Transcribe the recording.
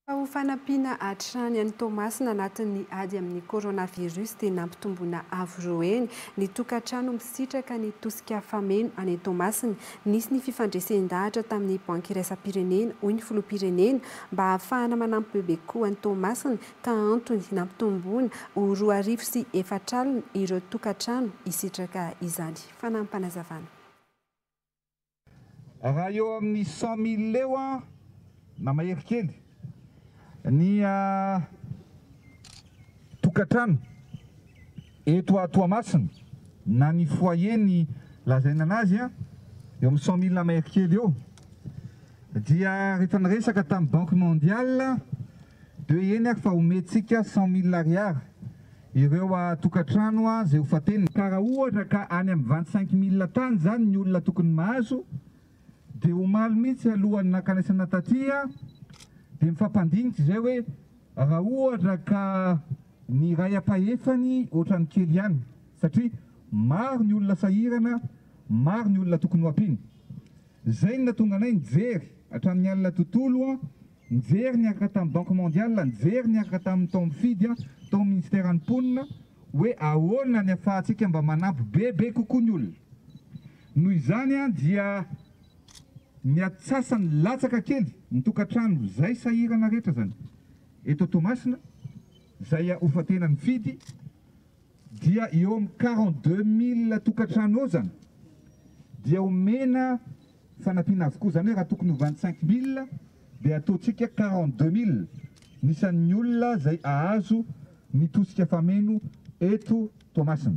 Fa ho fanampiana hatrany an'i Toamasina anatin'ny ady amin'ny coronavirus dia nampitomboina avo roa heny ny tokantrano misitraka ny tosika fameno any Toamasina. Nisy ny fifandresen-dahatra tamin'ny Banky Iraisam-pirenena, hoy ny Filoham-pirenena, mba hahafahana manampy bebe kokoa an'i Toamasina ka antony nampitomboina ho roa arivo sy efatra alina ireo tokantrano hisitraka izany. Fanampin'Panazavana. Raha eo amin'ny cent mille eo na mahery kely ny tokantrano eto à Toamasina na ny foyer ny lazaina anazy eo amin'ny cent mille na mahery kely eo dia rehefa niresaka tamin'ny banque mondiale De eny ary fa omentsika cent mille ariary ireo tokantrano izay ho fatenina. Ka raha ohatra ka any amin'ny vingt cinq mille tany izany ny olona tokony mahazo de omaly mihitsy alohan'ny nankanesana taty de mifampandinika izay hoe raha ohatra ka ny iray ampahefany ohatran'ny kely ihany satria maro ny olona sahirana, maro ny olona tokony ho ampiana. Izay no nahatonga anay nijery hatramin'ny alina tontolo, nijery niaraka tamin'ny Banque Mondiale, nijery niaraka tamin'ny tao amin'ny Fidy, tao amin'ny Ministeran'ny Mponina hoe ahoana ny ahafahantsika mba manampy bebe kokoa ny olona. Noho izany dia ny atsasany latsaka kely ny tokantrano izay sahirana rehetra izany eto Toamasina, izay ho fa-tenan'ny Fidy, dia eo amin'ny quarante deux mille tokantrano eo izany dia omena fanampiana avokoa, izany hoe raha tokony ho vingt cinq mille dia ataontsika quarante deux mille ny isan'ny olona izay hahazo ny tosika fameno eto Toamasina.